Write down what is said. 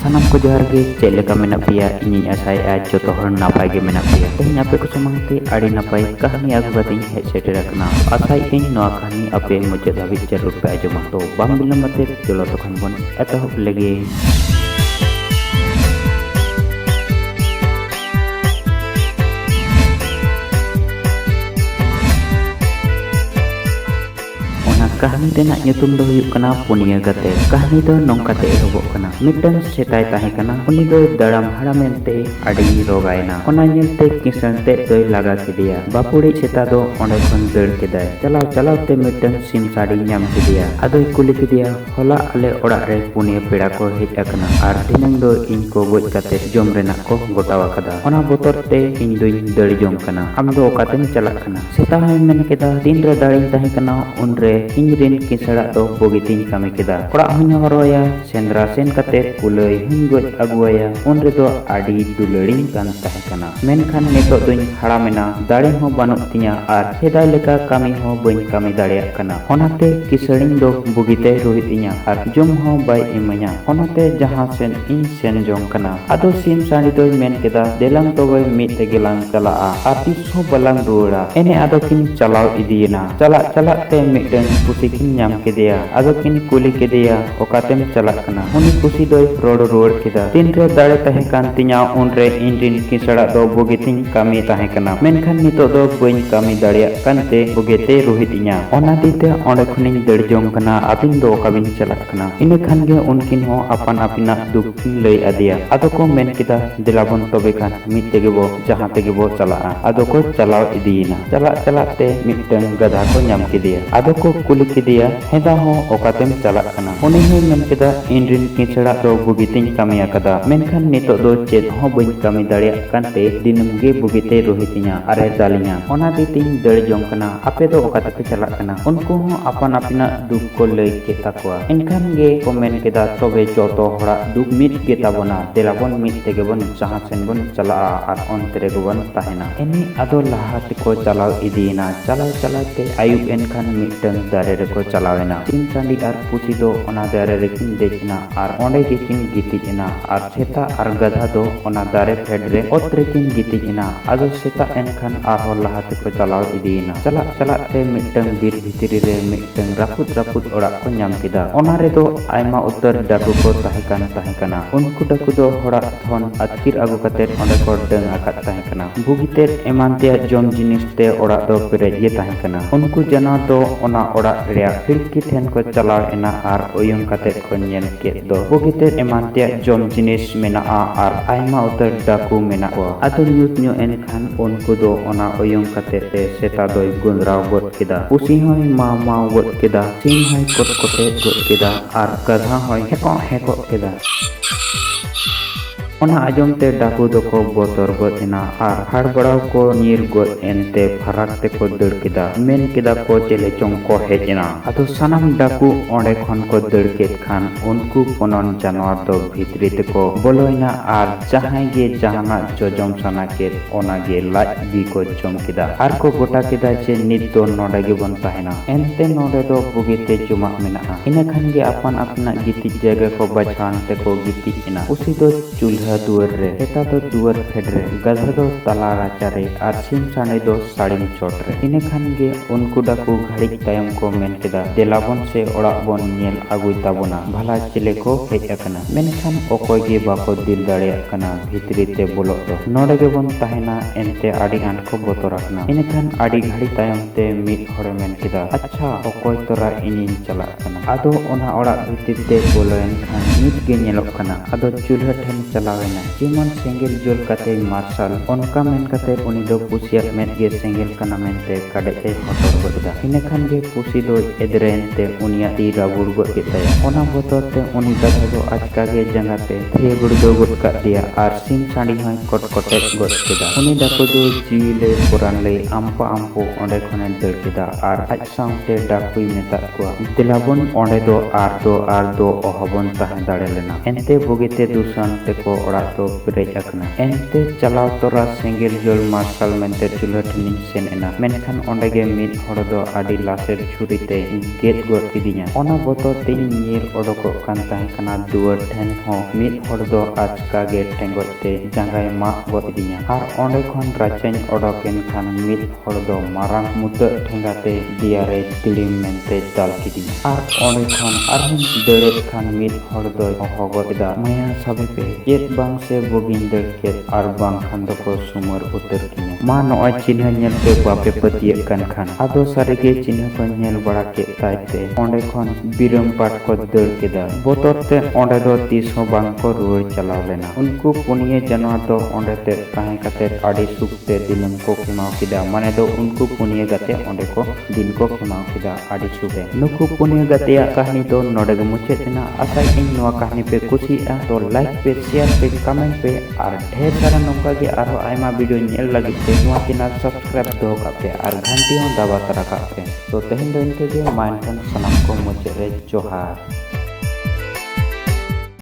ᱥᱟᱱᱟᱢ ᱠᱚ ᱡᱚᱦᱟᱨ ᱜᱮ ᱪᱮᱫ ᱞᱮᱠᱟ ᱢᱮᱱᱟᱜ ᱯᱮᱭᱟ ᱤᱧᱤᱧ ᱟᱥᱟᱭᱮᱫᱼᱟ ᱡᱚᱛᱚ ᱦᱚᱲ ᱱᱟᱯᱟᱭ ᱜᱮ ᱢᱮᱱᱟᱜ ᱯᱮᱭᱟ ᱛᱮᱦᱮᱧ ᱟᱯᱮ ᱠᱚ ᱥᱟᱢᱟᱝ ᱛᱮ ᱟᱹᱰᱤ ᱱᱟᱯᱟᱭ ᱠᱟᱹᱦᱱᱤ ᱟᱹᱜᱩ ᱠᱟᱛᱮᱧ ᱦᱮᱡ ᱥᱮᱴᱮᱨ ᱟᱠᱟᱱᱟ ᱟᱥᱟᱭᱮᱫ ᱟᱹᱧ ᱱᱚᱣᱟ ᱠᱟᱹᱦᱱᱤ ᱟᱯᱮ ᱢᱩᱪᱟᱹᱫ ᱫᱷᱟᱹᱵᱤᱡ ᱡᱟᱹᱨᱩᱲ ᱯᱮ ᱟᱸᱡᱚᱢᱟ ᱛᱚ ᱵᱟᱝ ᱵᱤᱞᱚᱢ ᱠᱟᱛᱮ ᱪᱚᱞᱚ ᱛᱚᱠᱷᱚᱱ ᱵᱚᱱ ᱮᱛᱚᱦᱚᱵ ᱞᱮᱜᱮ ᱚᱱᱟ ᱠᱟᱹᱦᱱᱤ ᱨᱮᱱᱟᱜ ᱧᱩᱛᱩᱢ ᱫᱚ ᱦᱩᱭᱩᱜ ᱠᱟᱱᱟ ᱯᱩᱱᱭᱟᱹ ᱜᱟᱛᱮ ᱠᱟᱹᱦᱱᱤ ᱫᱚ ᱱᱚᱝᱠᱟ ᱛᱮ ᱮᱦᱚᱵᱚᱜ ᱠᱟᱱᱟ ᱢᱤᱫᱴᱟᱝ ᱥᱮᱛᱟᱭ ᱛᱟᱦᱮᱸ ᱠᱟᱱᱟ ᱩᱱᱤ ᱫᱚᱭ ᱫᱟᱲᱟᱢ ᱦᱟᱲᱟᱢᱮᱱ ᱛᱮ ᱟᱹᱰᱤ ᱨᱚᱜᱟᱭᱮᱱᱟ ᱚᱱᱟ ᱧᱮᱞ ᱛᱮ ᱠᱤᱥᱟᱹᱬ ᱛᱮᱫ ᱫᱚᱭ ᱞᱟᱜᱟ ᱠᱮᱫᱮᱭᱟ ᱵᱟᱹᱯᱩᱲᱤᱡ ᱥᱮᱛᱟ ᱫᱚ ᱚᱸᱰᱮ ᱠᱷᱚᱱ ᱫᱟᱹᱲ ᱠᱮᱫᱟᱭ ᱪᱟᱞᱟᱣ ᱪᱟᱞᱟᱣ ᱛᱮ ᱢᱤᱫᱴᱟᱝ ᱥᱤᱢ ᱥᱟᱺᱰᱤᱭ ᱧᱟᱢ ᱠᱮᱫᱮᱭᱟ ᱟᱫᱚᱭ ᱠᱩᱞᱤ ᱠᱮᱫᱮᱭᱟ ᱦᱚᱞᱟ ᱟᱞᱮ ᱚᱲᱟᱜ ᱨᱮ ᱯᱩᱱᱭᱟᱹ ᱯᱮᱲᱟ ᱠᱚ ᱦᱮᱡ ᱟᱠᱟᱱᱟ ᱟᱨ ᱫᱷᱤᱱᱟᱹᱝ ᱫᱚ ᱤᱧ ᱠᱚ ᱜᱚᱡ ᱠᱟᱛᱮ ᱡᱚᱢ ᱨᱮᱱᱟᱜ ᱠᱚ ᱜᱚᱴᱟᱣ ᱟᱠᱟᱫᱟ᱾ ᱚᱱᱟ ᱵᱚᱛᱚᱨ ᱛᱮ ᱤᱧ ᱫᱚᱧ ᱫᱟᱹᱲ ᱡᱚᱝ ᱠᱟᱱᱟ᱾ ᱟᱢ ᱫᱚ ᱚᱠᱟ ᱛᱮᱢ ᱪᱟᱞᱟᱜ ᱠᱟᱱᱟ? ᱥᱮᱛᱟ ᱦᱚᱸᱭ ᱢᱮᱱ ᱠᱮᱫᱟ, ᱛᱤᱱ ᱨᱮ ᱫᱟᱲᱮᱧ ᱛᱟᱦᱮᱸ ᱠᱟᱱᱟ ᱩᱱ ᱨᱮ ᱤᱧ ᱨᱤᱱ ᱠᱤᱥᱟᱹᱬᱟᱜ ᱫᱚ ᱵᱩᱜᱤ ᱛᱤᱧ ᱠᱟᱹᱢᱤ ᱠᱮᱫᱟ᱾ ᱚᱲᱟᱜ ᱦᱚᱸᱧ ᱦᱚᱨᱦᱚᱭᱟ, ᱥᱮᱸᱫᱽᱨᱟ ᱥᱮᱱ ᱠᱟᱛᱮ ᱠᱩᱞᱟᱹᱭ ᱦᱚᱸᱧ ᱜᱚᱡ ᱟᱹᱜᱩ ᱟᱭᱟ᱾ ᱩᱱ ᱨᱮᱫᱚ ᱟᱹᱰᱤᱭ ᱫᱩᱞᱟᱹᱲᱤᱧ ᱠᱟᱱ ᱛᱟᱦᱮᱸᱫ᱾ ᱠᱟᱱᱟ ᱢᱮᱱᱠᱷᱟᱱ ᱱᱤᱛᱚᱜ ᱫᱚᱧ ᱦᱟᱲᱟᱢ ᱮᱱᱟ ᱫᱟᱲᱮ ᱦᱚᱸ ᱵᱟᱹᱱᱩᱜ ᱛᱤᱧᱟ ᱟᱨ ᱥᱮᱫᱟᱭ ᱞᱮᱠᱟ ᱠᱟᱹᱢᱤ ᱦᱚᱸ ᱵᱟᱹᱧ ᱠᱟᱹᱢᱤ ᱫᱟᱲᱮᱭᱟᱜ ᱠᱟᱱᱟ ᱚᱱᱟᱛᱮ ᱠᱤᱥᱟᱹᱬᱤᱧ ᱫᱚ ᱵᱩᱜᱤᱛᱮᱭ ᱨᱩᱦᱮᱫ ᱤᱧᱟ ᱟᱨ ᱡᱚᱢ ᱦᱚᱸ ᱵᱟᱭ ᱤᱢᱟᱹᱧᱟ ᱚᱱᱟᱛᱮ ᱡᱟᱦᱟᱸ ᱥᱮᱱ ᱤᱧ ᱥᱮᱱ ᱡᱚᱝ ᱠᱟᱱᱟ ᱟᱫᱚ ᱥᱤᱢ ᱥᱟᱺᱰᱤ ᱫᱚᱭ ᱢᱮᱱ ᱠᱮᱫᱟ ᱫᱮᱞᱟᱝ ᱛᱚᱵᱮ ᱢᱤᱫ ᱛᱮᱜᱮᱞᱟᱝ ᱪᱟᱞᱟᱜᱼᱟ ᱟᱨ ᱛᱤᱥ ᱦᱚᱸ ᱵᱟᱞᱟᱝ ᱨᱩᱣᱟᱹᱲᱟ ᱮᱱᱮ ᱟᱫᱚ ᱠᱤᱱ ᱪᱟᱞᱟᱣ ᱤᱫᱤᱭᱮᱱᱟ ᱪᱟᱞᱟᱜ ᱪᱟᱞᱟᱜ ᱛᱮ ᱢᱤᱫᱴᱟᱹᱝ ᱯᱩᱥᱤ ᱠᱤᱱ ᱧᱟᱢ ᱠᱮᱫᱮᱭᱟ ᱟᱫᱚ ᱠᱤᱱ ᱠᱩᱞᱤ ᱠᱮᱫᱮᱭᱟ ᱚᱠᱟᱛᱮᱢ ᱪᱟᱞᱟᱜ ᱠᱟᱱᱟ ᱩᱱᱤ ᱠᱩᱥᱤ ᱫᱚᱭ ᱨᱚᱲ ᱨᱩᱣᱟᱹᱲ ᱠᱮᱫᱟ ᱛᱤᱱᱨᱮ ᱫᱟᱲᱮ ᱛᱟᱦᱮᱸ ᱠᱟᱱ ᱛᱤᱧᱟ ᱩᱱᱨᱮ ᱤᱧ ᱨᱤᱱ ᱠᱤᱥᱟᱹᱬᱟᱜ ᱫᱚ ᱵᱩᱜᱤ ᱛᱤᱧ ᱠᱟᱹᱢᱤ ᱛᱟᱦᱮᱸ ᱠᱟᱱᱟ ᱢᱮᱱᱠᱷᱟᱱ ᱱᱤᱛᱚᱜ ᱫᱚ ᱵᱟᱹᱧ ᱠᱟᱹᱢᱤ ᱫᱟᱲᱮᱭᱟᱜ ᱠᱟᱱᱛᱮ ᱵᱩᱜᱤ ᱛᱮᱭ ᱨᱩᱦᱤᱫ ᱤᱧᱟ ᱚᱱᱟ ᱫᱤᱛᱮ ᱚᱸᱰᱮ ᱠᱷᱚᱱᱤᱧ ᱫᱟᱹᱲ ᱡᱚᱝ ᱠᱟᱱᱟ ᱟᱹᱵᱤᱱ ᱫᱚ ᱚᱠᱟ ᱵᱤᱱ ᱪᱟᱞᱟᱜ ᱠᱟᱱᱟ ᱤᱱᱟᱹ ᱠᱷᱟᱱ ᱜᱮ ᱩᱱᱠᱤᱱ ᱦᱚᱸ ᱟᱯᱟᱱ ᱟᱹᱯᱤᱱᱟᱜ ᱫᱩᱠ ᱠᱤᱱ ᱞᱟᱹᱭ ᱟᱫᱮᱭᱟ ᱟᱫᱚ ᱠᱚ ᱢᱮᱱ ᱠᱮᱫᱟ ᱫᱮᱞᱟ ᱵᱚᱱ ᱛᱚᱵᱮ ᱠᱷᱟᱱ ᱢᱤᱫ ᱛᱮᱜᱮ ᱵᱚ ᱡᱟᱦᱟᱸ ᱛᱮᱜᱮ ᱵᱚ ᱪᱟᱞᱟᱜᱼᱟ ᱟᱫᱚ ᱠᱚ ᱪᱟᱞᱟᱣ ᱤᱫᱤᱭᱮᱱᱟ ᱪᱟᱞᱟᱜ ᱪᱟᱞᱟᱜ ᱛᱮ ᱢᱤᱫᱴᱟᱹᱝ ᱜᱟᱫᱷᱟ ᱠᱚ ᱧᱟᱢ ᱠᱮᱫᱮᱭᱟ ᱟᱫᱚ ᱠᱚ ᱠᱩᱞᱤ ᱠᱮᱫᱮᱭᱟ ᱦᱮᱸᱫᱟ ᱦᱚᱸ ᱚᱠᱟ ᱛᱮᱢ ᱪᱟᱞᱟᱜ ᱠᱟᱱᱟ ᱩᱱᱤ ᱦᱚᱸᱭ ᱢᱮᱱ ᱠᱮᱫᱟ ᱤᱧ ᱨᱮᱱ ᱠᱤᱥᱟᱹᱲᱟᱜ ᱫᱚ ᱵᱩᱜᱤ ᱛᱮᱧ ᱠᱟᱹᱢᱤ ᱟᱠᱟᱫᱟ ᱢᱮᱱᱠᱷᱟᱱ ᱱᱤᱛᱚᱜ ᱫᱚ ᱪᱮᱫ ᱦᱚᱸ ᱵᱟᱹᱧ ᱠᱟᱹᱢᱤ ᱫᱟᱲᱮᱭᱟᱜ ᱠᱟᱱᱛᱮ ᱫᱤᱱᱟᱹᱢ ᱜᱮ ᱵᱩᱜᱤ ᱛᱮᱭ ᱨᱩᱦᱤᱛᱤᱧᱟ ᱟᱨᱮ ᱫᱟᱞᱤᱧᱟ ᱚᱱᱟ ᱫᱤ ᱛᱮᱧ ᱫᱟᱹᱲ ᱡᱚᱝ ᱠᱟᱱᱟ ᱟᱯᱮ ᱫᱚ ᱚᱠᱟ ᱛᱮᱯᱮ ᱪᱟᱞᱟᱜ ᱠᱟᱱᱟ ᱩᱱᱠᱩ ᱦᱚᱸ ᱟᱯᱟᱱ ᱟᱹᱯᱤᱱᱟᱜ ᱫᱩᱠ ᱠᱚ ᱞᱟᱹᱭ ᱠᱮᱫ ᱛᱟᱠᱚᱣᱟ ᱮᱱᱠᱷᱟᱱ ᱜᱮ ᱠᱚ ᱢᱮᱱ ᱠᱮᱫᱟ ᱛᱚᱵᱮ ᱡᱚᱛᱚ ᱦᱚᱲᱟᱜ ᱫᱩᱠ ᱢᱤᱫ ᱜᱮ ᱛᱟᱵᱚᱱᱟ ᱫᱮᱞᱟᱵᱚᱱ ᱢᱤᱫ ᱛᱮᱜᱮ ᱵᱚᱱ ᱡᱟᱦᱟᱸ ᱥᱮᱱ ᱵᱚᱱ ᱪᱟᱞᱟᱜᱼᱟ ᱟᱨ ᱚᱱᱛᱮ ᱨᱮᱜᱮ ᱵᱚᱱ ᱛᱟᱦᱮᱱᱟ᱾ ᱮᱱᱮᱡ ᱟᱫᱚ ᱞᱟᱦᱟ ᱛᱮᱠᱚ ᱪᱟᱞᱟᱣ ᱤᱫᱤᱭᱮᱱᱟ ᱪᱟᱞᱟᱣ ᱪᱟᱞᱟᱣ ᱛᱮ ᱟᱹᱭᱩᱵ ᱮᱱᱠᱷᱟᱱ ᱢᱤᱫᱴᱟᱹᱝ ᱫᱟᱨᱮ ᱨᱮᱠᱚ ᱪᱟᱞᱟᱣ ᱮᱱᱟ ᱥᱤᱢ ᱥᱟᱺᱰᱤ ᱟᱨ ᱯᱩᱥᱤ ᱫᱚ ᱚᱱᱟ ᱫᱟᱨᱮ ᱨᱮᱠᱤᱱ ᱫᱮᱡ ᱮᱱᱟ ᱟᱨ ᱚᱸᱰᱮ ᱜᱮᱠᱤᱱ ᱜᱤᱛᱤᱡ ᱮᱱᱟ ᱟᱨ ᱥᱮᱛᱟ ᱟᱨ ᱜᱟᱫᱷᱟ ᱫᱚ ᱚᱱᱟ ᱫᱟᱨᱮ ᱯᱷᱮᱰ ᱨᱮ ᱚᱛ ᱨᱮᱠᱤᱱ ᱜᱤᱛᱤᱡ ᱮᱱᱟ ᱟᱫᱚ ᱥᱮᱛᱟᱜ ᱮᱱᱠᱷᱟᱱ ᱟᱨᱦᱚᱸ ᱞᱟᱦᱟ ᱛᱮᱠᱚ ᱪᱟᱞᱟᱣ ᱤᱫᱤᱭᱮᱱᱟ ᱪᱟᱞᱟᱜ ᱪᱟᱞᱟᱜ ᱛᱮ ᱢᱤᱫᱴᱟᱹᱝ ᱵᱤᱨ ᱵᱷᱤᱛᱨᱤ ᱨᱮ ᱢᱤᱫ ᱢᱤᱫᱴᱟᱝ ᱨᱟᱹᱯᱩᱫ ᱨᱟᱹᱯᱩᱫ ᱚᱲᱟᱜ ᱠᱚ ᱧᱟᱢ ᱠᱮᱫᱟ ᱚᱱᱟ ᱨᱮᱫᱚ ᱟᱭᱢᱟ ᱩᱛᱟᱹᱨ ᱰᱟᱹᱠᱩ ᱠᱚ ᱛᱟᱦᱮᱸ ᱠᱟᱱ ᱛᱟᱦᱮᱸ ᱠᱟᱱᱟ ᱩᱱᱠᱩ ᱰᱟᱹᱠᱩ ᱫᱚ ᱦᱚᱲᱟᱜ ᱫᱷᱚᱱ ᱟᱹᱛᱠᱤᱨ ᱟᱹᱜᱩ ᱠᱟᱛᱮ ᱚᱸᱰᱮ ᱠᱚ ᱰᱟᱹᱝ ᱟᱠᱟᱫ ᱛᱟᱦᱮᱸ ᱠᱟᱱᱟ ᱵᱩᱜᱤ ᱛᱮᱫ ᱮᱢᱟᱱ ᱛᱮᱭᱟᱜ ᱡᱚᱢ ᱡᱤᱱᱤᱥ ᱛᱮ ᱚᱲᱟᱜ ᱫᱚ ᱯᱮᱨᱮᱡ ᱜᱮ ᱛᱟᱦᱮᱸ ᱠᱟᱱᱟ ᱩᱱᱠᱩ ᱡᱟᱱᱣᱟᱨ ᱫᱚ ᱚᱱᱟ ᱚᱲᱟᱜ ᱨᱮᱭᱟᱜ ᱠᱷᱤᱲᱠᱤ ᱴᱷᱮᱱ ᱠᱚ ᱪᱟᱞᱟᱣ ᱮᱱᱟ ᱟᱨ ᱩᱭᱩᱝ ᱠᱟᱛᱮ ᱠᱚ ᱧᱮᱞ ᱠᱮᱫ ᱫᱚ ᱵᱩᱜᱤ ᱛᱮᱫ ᱮᱢᱟᱱ ᱛᱮᱭᱟᱜ ᱡᱚᱢ ᱡᱤᱱᱤᱥ ᱢᱮᱱᱟᱜᱼᱟ ᱟᱨ ᱟᱭᱢᱟ ᱩᱛᱟᱹᱨ ᱰᱟᱹᱠᱩ ᱢᱮᱱᱟᱜ ᱠᱚᱣᱟ ᱟᱫᱚ ᱧᱩᱛ ᱧᱚᱜ ᱮᱱ ᱠᱷᱟᱱ ᱩᱱᱠᱩ ᱫᱚ ᱚᱱᱟ ᱩᱭᱩᱝ ᱠᱟᱛᱮ ᱛᱮ ᱥᱮᱛᱟ ᱫᱚᱭ ᱜᱩᱸᱫᱽᱨᱟᱣ ᱜᱚᱫ ᱠᱮᱫᱟ ᱯᱩᱥᱤ ᱦᱚᱸᱭ ᱢᱟᱣ ᱢᱟᱣ ᱜᱚᱫ ᱠᱮᱫᱟ ᱥᱤᱢ ᱦᱚᱸᱭ ᱠᱚᱴ ᱠᱚᱴᱮᱡ ᱜᱚᱫ ᱠᱮᱫᱟ ᱟᱨ ᱜᱟᱫᱷᱟ ᱦᱚᱸᱭ ᱦᱮᱸᱠᱚᱜ ᱦᱮᱸᱠᱚᱜ ᱠᱮᱫᱟ᱾ ᱚᱱᱟ ᱟᱸᱡᱚᱢ ᱛᱮ ᱰᱟᱹᱠᱩ ᱫᱚᱠᱚ ᱵᱚᱛᱚᱨ ᱜᱚᱫ ᱮᱱᱟ ᱟᱨ ᱦᱟᱲᱵᱟᱲᱟᱣ ᱠᱚ ᱧᱤᱨ ᱜᱚᱫ ᱮᱱ ᱛᱮ ᱯᱷᱟᱨᱟᱠ ᱛᱮᱠᱚ ᱫᱟᱹᱲ ᱠᱮᱫᱟ᱾ ᱢᱮᱱ ᱠᱮᱫᱟ ᱠᱚ ᱪᱮᱞᱮ ᱪᱚᱝ ᱠᱚ ᱦᱮᱡ ᱮᱱᱟ᱾ ᱟᱫᱚ ᱥᱟᱱᱟᱢ ᱰᱟᱹᱠᱩ ᱚᱸᱰᱮ ᱠᱷᱚᱱ ᱠᱚ ᱫᱟᱹᱲ ᱠᱮᱫ ᱠᱷᱟᱱ ᱩᱱᱠᱩ ᱯᱚᱱᱚᱱ ᱡᱟᱱᱣᱟᱨ ᱫᱚ ᱵᱷᱤᱛᱨᱤ ᱛᱮᱠᱚ ᱵᱚᱞᱚᱭᱮᱱᱟ ᱟᱨ ᱡᱟᱦᱟᱸᱭ ᱜᱮ ᱡᱟᱦᱟᱱᱟᱜ ᱡᱚᱡᱚᱢ ᱥᱟᱱᱟ ᱠᱮᱫ ᱚᱱᱟᱜᱮ ᱞᱟᱡ ᱜᱮ ᱠᱚ ᱡᱚᱢ ᱠᱮᱫᱟ ᱟᱨ ᱠᱚ ᱜᱚᱴᱟ ᱠᱮᱫᱟ ᱡᱮ ᱱᱤᱛ ᱫᱚ ᱱᱚᱰᱮ ᱜᱮᱵᱚᱱ ᱛᱟᱦᱮᱱᱟ ᱮᱱᱛᱮ ᱱᱚᱰᱮ ᱫᱚ ᱵᱩᱜᱤᱛᱮ ᱡᱚᱢᱟᱜ ᱢᱮᱱᱟᱜᱼᱟ ᱤᱱᱟᱹ ᱠᱷᱟᱱ ᱜᱮ ᱟᱯᱟᱱ ᱟᱹᱯᱤᱱᱟᱜ ᱜᱤᱛᱤᱡ ᱡᱟᱭᱜᱟ ᱠᱚ ᱵᱟᱪᱷᱟᱣᱟᱱ ᱛᱮᱠᱚ ᱜᱤᱛᱤᱡ ᱮᱱᱟ ᱯᱩᱥᱤ ᱫᱚ ᱪᱩᱞᱦᱟᱹ ᱫᱩᱣᱟᱹᱨ ᱨᱮ ᱥᱮᱛᱟ ᱫᱚ ᱫᱩᱣᱟᱹᱨ ᱯᱷᱮᱰ ᱨᱮ ᱜᱟᱫᱷᱟ ᱫᱚ ᱛᱟᱞᱟ ᱨᱟᱪᱟ ᱨᱮ ᱟᱨ ᱥᱤᱢ ᱥᱟᱸᱰᱮ ᱫᱚ ᱥᱟᱹᱲᱤᱢ ᱪᱚᱴ ᱨᱮ ᱤᱱᱟᱹ ᱠᱷᱟᱱ ᱜᱮ ᱩᱱᱠᱩ ᱰᱟᱹᱠᱩ ᱜᱷᱟᱹᱲᱤᱡ ᱛᱟᱭᱚᱢ ᱠᱚ ᱢᱮᱱ ᱠᱮᱫᱟ ᱫᱮᱞᱟ ᱵᱚᱱ ᱥᱮ ᱚᱲᱟᱜ ᱵᱚᱱ ᱧᱮᱞ ᱟᱹᱜᱩᱭ ᱛᱟᱵᱚᱱᱟ ᱵᱷᱟᱞᱟ ᱪᱮᱞᱮ ᱠᱚ ᱦᱮᱡ ᱟᱠᱟᱱᱟ ᱢᱮᱱᱠᱷᱟᱱ ᱚᱠᱚᱭ ᱜᱮ ᱵᱟᱠᱚ ᱫᱤᱞ ᱫᱟᱲᱮᱭᱟᱜ ᱠᱟᱱᱟ᱾ ᱵᱷᱤᱛᱨᱤ ᱛᱮ ᱵᱚᱞᱚᱜ ᱫᱚ᱾ ᱱᱚᱰᱮ ᱜᱮᱵᱚᱱ ᱛᱟᱦᱮᱸᱱᱟ ᱮᱱᱛᱮ ᱟᱹᱰᱤ ᱟᱸᱴ ᱠᱚ ᱵᱚᱛᱚᱨ ᱟᱠᱟᱱᱟ᱾ ᱤᱱᱟᱹᱠᱷᱟᱱ ᱟᱹᱰᱤ ᱜᱷᱟᱹᱲᱤ ᱛᱟᱭᱚᱢ ᱛᱮ ᱢᱤᱫ ᱦᱚᱲᱮ ᱢᱮᱱ ᱠᱮᱫᱟ, ᱟᱪᱪᱷᱟ ᱚᱠᱚᱭ ᱛᱚᱨᱟ ᱤᱧᱤᱧ ᱪᱟᱞᱟᱜ ᱠᱟᱱᱟ᱾ ᱟᱫᱚ ᱚᱱᱟ ᱚᱲᱟᱜ ᱵᱷᱤᱛᱤᱨ ᱛᱮᱭ ᱵᱚᱞᱚᱭᱮᱱ ᱠᱷᱟᱱ ᱱᱤᱛ ᱜᱮ ᱧᱮᱞᱚᱜ ᱠᱟᱱᱟ᱾ ᱟᱫᱚ ᱪᱩᱞᱦᱟᱹ ᱴᱷᱮᱱ ᱪᱟᱞᱟᱣ ᱮᱱᱟᱭ᱾ ᱡᱮᱢᱚᱱ ᱥᱮᱸᱜᱮᱞ ᱡᱳᱞ ᱠᱟᱛᱮᱭ ᱢᱟᱨᱥᱟᱞ ᱚᱱᱠᱟ ᱢᱮᱱ ᱠᱟᱛᱮ ᱩᱱᱤ ᱫᱚ ᱯᱩᱥᱤᱭᱟᱜ ᱢᱮᱫ ᱜᱮ ᱥᱮᱸᱜᱮᱞ ᱠᱟᱱᱟ ᱢᱮᱱᱛᱮ ᱠᱟᱰᱮᱡ ᱮ ᱦᱚᱴᱚᱨ ᱜᱚᱫ ᱮᱫᱟ᱾ ᱤᱱᱟᱹᱠᱷᱟᱱ ᱜᱮ ᱯᱩᱥᱤ ᱫᱚᱭ ᱮᱫᱽᱨᱮᱭᱮᱱ ᱛᱮ ᱩᱱᱤᱭᱟᱜ ᱛᱤᱭ ᱨᱟᱹᱵᱩᱲ ᱜᱚᱫ ᱠᱮᱫ ᱛᱟᱭᱟ᱾ ᱚᱱᱟ ᱵᱚᱛᱚᱨ ᱛᱮ ᱩᱱᱤ ᱜᱟᱫᱷᱟ ᱫᱚ ᱟᱪᱠᱟ ᱜᱮ ᱡᱟᱸᱜᱟ ᱛᱮ᱾ ᱛᱷᱮ ᱵᱩᱲᱫᱟᱹᱣ ᱜᱚᱫ ᱠᱟᱫ ᱫᱮᱭᱟ ᱟᱨ ᱥᱤᱢ ᱥᱟᱺᱰᱤ ᱦᱚᱸᱭ ᱠᱚᱴᱠᱚᱴᱮᱫ ᱜᱚᱫ ᱠᱮᱫᱟ ᱩᱱᱤ ᱰᱟᱹᱠᱩ ᱫᱚ ᱡᱤᱣᱤ ᱞᱟᱹᱭ ᱯᱚᱨᱟᱱ ᱞᱟᱹᱭ ᱟᱢᱯᱚ ᱟᱢᱯᱚ ᱚᱸᱰᱮ ᱠᱷᱚᱱᱮ ᱫᱟᱹᱲ ᱠᱮᱫᱟ ᱟᱨ ᱟᱡ ᱥᱟᱶᱛᱮ ᱰᱟᱹᱠᱩᱭ ᱢᱮᱛᱟᱫ ᱠᱚᱣᱟ ᱫᱮᱞᱟᱵᱚᱱ ᱚᱸᱰᱮ ᱫᱚ ᱟᱨ ᱫᱚ ᱟᱨ ᱫᱚ ᱚᱦᱚᱵᱚᱱ ᱛᱟᱦᱮᱸ ᱫᱟᱲᱮ ᱞᱮᱱᱟ ᱮᱱᱛᱮ ᱵᱩᱜᱤᱛᱮ ᱫᱩᱥᱟᱱ ᱛᱮᱠᱚ ᱚᱲᱟᱜ ᱫᱚ ᱯᱮᱨᱮᱡ ᱟᱠᱟᱱᱟ ᱮᱱᱛᱮ ᱪᱟᱞᱟᱣ ᱛᱚᱨᱟ ᱥᱮᱸᱜᱮᱞ ᱡᱳᱞ ᱢᱟᱨᱥᱟᱞ ᱢᱮᱱᱛᱮ ᱪᱩᱞᱦᱟᱹ ᱴᱷᱮᱱᱤᱧ ᱥᱮᱱ ᱮᱱᱟ ᱢᱮᱱᱠᱷᱟᱱ ᱚᱸᱰᱮ ᱜᱮ ᱢᱤᱫ ᱦᱚᱲ ᱫᱚ ᱟᱹᱰᱤ ᱞᱟᱥᱮᱨ ᱪᱷᱩᱨᱤ ᱛᱮᱭ ᱜᱮᱫ ᱜᱚᱫ ᱠᱤᱫᱤᱧᱟ ᱚᱱᱟ ᱵᱚᱛᱚᱨ ᱛᱮ ᱤᱧ ᱧᱤᱨ ᱚᱰᱚᱠᱚᱜ ᱠᱟᱱ ᱛᱟᱦᱮᱸ ᱠᱟᱱᱟ ᱫᱩᱣᱟᱹᱨ ᱴᱷᱮᱱ ᱦᱚᱸ ᱢᱤᱫ ᱦᱚᱲ ᱫᱚ ᱟᱪᱠᱟ ᱜᱮ ᱴᱮᱸᱜᱚᱡ ᱛᱮ ᱡᱟᱸᱜᱟᱭ ᱢᱟᱜ ᱜᱚᱫ ᱤᱫᱤᱧᱟ ᱟᱨ ᱚᱸᱰᱮ ᱠᱷᱚᱱ ᱨᱟᱪᱟᱧ ᱚᱰᱚᱠ ᱮᱱ ᱠᱷᱟᱱ ᱢᱤᱫ ᱦᱚᱲ ᱫᱚ ᱢᱟᱨᱟᱝ ᱢᱩᱛᱟᱹᱜ ᱴᱷᱮᱸᱜᱟ ᱛᱮ ᱫᱮᱭᱟ ᱨᱮᱭ ᱛᱤᱲᱤᱢ ᱢᱮᱱᱛᱮ ᱫᱟᱞ ᱠᱤᱫᱤᱧᱟ ᱟᱨ ᱚᱸᱰᱮ ᱠᱷᱚᱱ ᱟᱨᱦᱚᱸᱧ ᱫᱟᱹᱲᱮᱫ ᱠᱷᱟᱱ ᱢᱤᱫ ᱦᱚᱲ ᱫᱚᱭ ᱦᱚᱦᱚ ᱜᱚᱫ ᱮᱫᱟ ᱢᱟᱭᱟ ᱥᱟᱵᱮ ᱯᱮ ᱪᱮᱫ ᱵᱟᱝ ᱥᱮ ᱵᱩᱜᱤᱧ ᱫᱟᱹᱲ ᱠᱮᱫ ᱟᱨ ᱵᱟᱝ ᱠᱷᱟᱱ ᱫᱚᱠᱚ ᱥᱩᱢᱟᱹᱨ ᱩᱛᱟᱹᱨ ᱠᱤᱧᱟ ᱢᱟ ᱱᱚᱜᱼᱚᱭ ᱪᱤᱱᱦᱟᱹ ᱧᱮᱞ ᱛᱮ ᱵᱟᱯᱮ ᱯᱟᱹᱛᱭᱟᱹᱜ ᱠᱟᱱ ᱠᱷᱟᱱ ᱟᱫᱚ ᱥᱟᱹᱨᱤ ᱜᱮ ᱪᱤᱱᱦᱟᱹ ᱠᱚᱧ ᱧᱮᱞ ᱵᱟᱲᱟ ᱠᱮᱫ ᱛᱟᱭ ᱛᱮ ᱚᱸᱰᱮ ᱠᱷᱚᱱ ᱵᱤᱨᱟᱹᱢ ᱯᱟᱴ ᱠᱚ ᱫᱟᱹᱲ ᱠᱮᱫᱟ᱾ ᱵᱚᱛᱚᱨ ᱛᱮ ᱚᱸᱰᱮ ᱫᱚ ᱛᱤᱥ ᱦᱚᱸ ᱵᱟᱝ ᱠᱚ ᱨᱩᱣᱟᱹᱲ ᱪᱟᱞᱟᱣ ᱞᱮᱱᱟ᱾ ᱩᱱᱠᱩ ᱯᱩᱱᱭᱟᱹ ᱡᱟᱱᱣᱟᱨ ᱫᱚ ᱚᱸᱰᱮ ᱛᱮᱫ ᱛᱟᱦᱮᱸ ᱠᱟᱛᱮᱫ ᱟᱹᱰᱤ ᱥᱩᱠ ᱛᱮ ᱫᱤᱱᱟᱹᱢ ᱠᱚ ᱠᱷᱮᱢᱟᱣ ᱠᱮᱫᱟ᱾ ᱢᱟᱱᱮ ᱫᱚ ᱩᱱᱠᱩ ᱯᱩᱱᱭᱟᱹ ᱜᱟᱛᱮ ᱚᱸᱰᱮ ᱠᱚ ᱫᱤᱱ ᱠᱚ ᱠᱷᱮᱢᱟᱣ ᱠᱮᱫᱟ ᱟᱹᱰᱤ ᱥᱩᱠ ᱛᱮ᱾ ᱱᱩᱠᱩ ᱯᱩᱱᱭᱟᱹ ᱜᱟᱛᱮᱭᱟᱜ ᱠᱟᱹᱦᱱᱤ ᱫᱚ ᱱᱚᱸᱰᱮ ᱜᱮ ᱢᱩᱪᱟᱹᱫ ᱮᱱᱟ᱾ ᱟᱥᱟᱭ ᱟᱹᱧ ᱱᱚᱣᱟ ᱠᱟᱹᱦᱱᱤ ᱯᱮ ᱠᱩᱥᱤᱭᱟᱜᱼᱟ᱾ ᱛᱚ ᱞᱟᱭᱤᱠ ᱯᱮ, ᱥᱮᱭᱟᱨ ᱯᱮ, ᱠᱟᱢᱮᱱᱴ ᱯᱮ ᱟᱨ ᱰᱷᱮᱨ ᱫᱷᱟᱨᱟ ᱱᱚᱝᱠᱟ ᱜᱮ ᱟᱨᱦᱚᱸ ᱟᱭᱢᱟ ᱵᱷᱤᱰᱤᱭᱳ ᱧᱮᱞ ᱞᱟᱹᱜᱤᱫ ᱛᱮ ᱱᱚᱣᱟ ᱪᱮᱱᱮᱞ ᱥᱟᱵᱥᱠᱨᱟᱭᱤᱵᱽ ᱫᱚᱦᱚ ᱠᱟᱜ ᱯᱮ ᱟᱨ ᱜᱷᱟᱱᱴᱤ ᱦᱚᱸ ᱫᱟᱵᱟ ᱛᱟᱨᱟ ᱠᱟᱜ ᱯᱮ᱾ ᱛᱚ ᱛᱮᱦᱮᱧ ᱫᱚ ᱤᱱᱠᱟᱹᱜᱮ ᱢᱟ ᱮᱱᱠᱷᱟᱱ ᱥᱟᱱᱟᱢ ᱠᱚ ᱢᱩᱪᱟᱹᱫ ᱨᱮ ᱡᱚᱦᱟᱨ